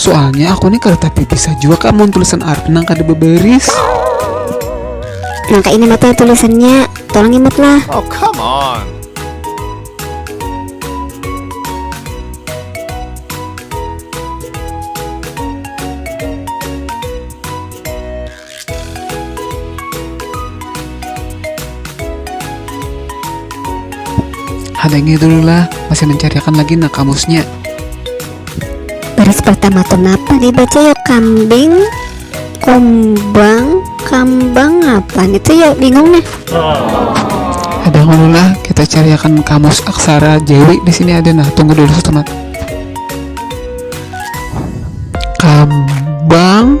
Soalnya aku nih kada tapi bisa juga kak mau tulisan Arab nang kada beberis. Nang kak ini mata tulisannya, tolong imut lah. Oh come on. Hadangi dulu lah, masih mencariakan lagi nak kamusnya. Baris pertama tuh napa dibaca ya kambing, kumbang, kambang apa itu ya bingung nih. Ada dulu lah, kita cariakan kamus aksara Jawi di sini ada nah tunggu dulu setemat. Kambang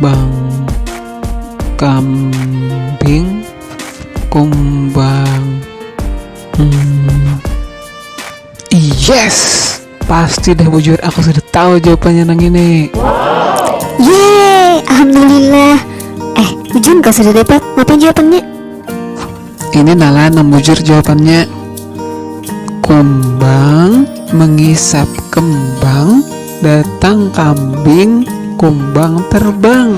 Bang kambing kumbang hmm. yes pasti dah bujur aku sudah tahu jawabannya nang ini yeay alhamdulillah eh bujur kau sudah dapat ngapain jawabannya Ini nalah nang bujur jawabannya. Kumbang mengisap kembang, datang kambing, kumbang terbang.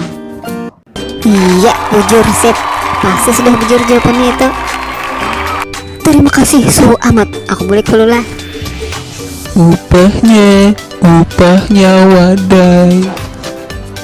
Iya, bujur sip. Pasti sudah bujur jawabannya itu. Terima kasih, suhu amat. Aku boleh keluar. Upahnya, upahnya wadai.